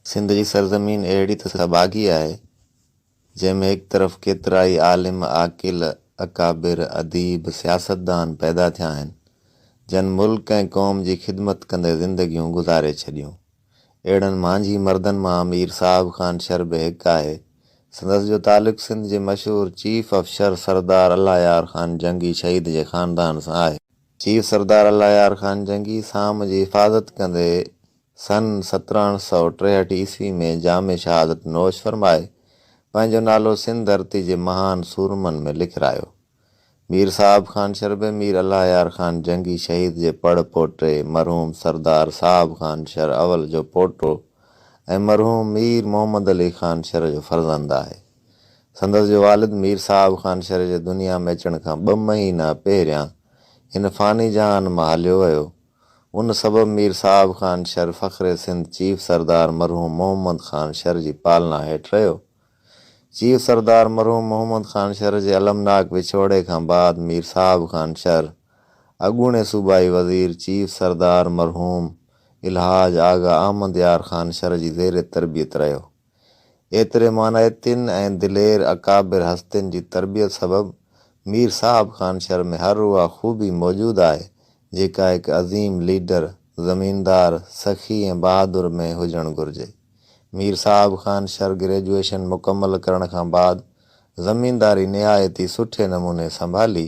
سنڌ جي سرزمين اهڙي ته سڀاڳي آهي، جنهن ۾ هڪ طرف ڪيترائي عالم، عاقل، اڪابر، اديب، سياستدان پيدا ٿيا آهن، جن ملڪ ۽ قوم جي خدمت ڪندي زندگيون گذاري ڇڏيون. اهڙن مانجهي مردن مان مير صاحب خان شر به هڪ آهي. سندس جو تعلق سنڌ جي مشهور چيف آف شر سردار الله يار خان جنگي شهيد جي خاندان سان آهي. چيف سردار الله يار خان جنگي سام جي حفاظت ڪندي سن سترهن سؤ ٽيهٺ عيسوي ۾ جام شهادت نوش فرمائي پنهنجو نالو سنڌ ڌرتي جي مهان سورمن ۾ لکرايو. مير صاحب خان شربي مير الله يار خان جنگي شهيد جي پڙ پوٽي مرحوم سردار صاحب خان شر اول جو پوٽو ۽ مرحوم مير محمد علي خان شر جو فرزند آهي. سندس جو والد مير صاحب خان شريف جي دنيا ۾ اچڻ کان ٻه مهينا پهريان هن فاني جهان مان هليو ويو. ان سبب مير صاحب خان شر فخر سنڌ چيف سردار مرحوم محمد خان شر جي پالنا هيٺ رهيو. چيف سردار مرحوم محمد خان شر جي المناڪ وڇوڙي کان بعد مير صاحب خان شر اڳوڻي صوبائي وزير چيف سردار مرحوم الحاج آغا احمد يار خان شر جي زير تربيت رهيو. ايتري مانائي تن ۽ دلير اڪابر هستين جي تربيت سبب مير صاحب خان شھر ۾ هر اها خوبي موجود آهي جيڪا هڪ عظيم ليڊر، زميندار، سخي ۽ بهادر ۾ هجڻ گهرجي. مير صاحب خان شھر گريجوئيشن مڪمل ڪرڻ کان بعد زمينداري نهايت ئي سٺي نموني سنڀالي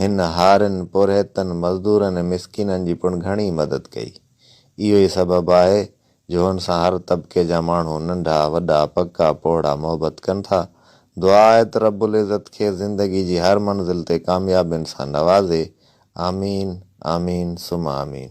هن هارين، پورهيتن، مزدورن ۽ مسڪينن جي پڻ گهڻي مدد ڪئي. اهو ئي سبب آهي جو هن سان هر طبقي جا ماڻهو ننڍا، وڏا، پڪا، پوڙها محبت ڪن ٿا. دعا آهي ته رب العزت کيس زندگي جي هر منزل تي ڪاميابين سان نوازي. آمين آمين ثم آمين.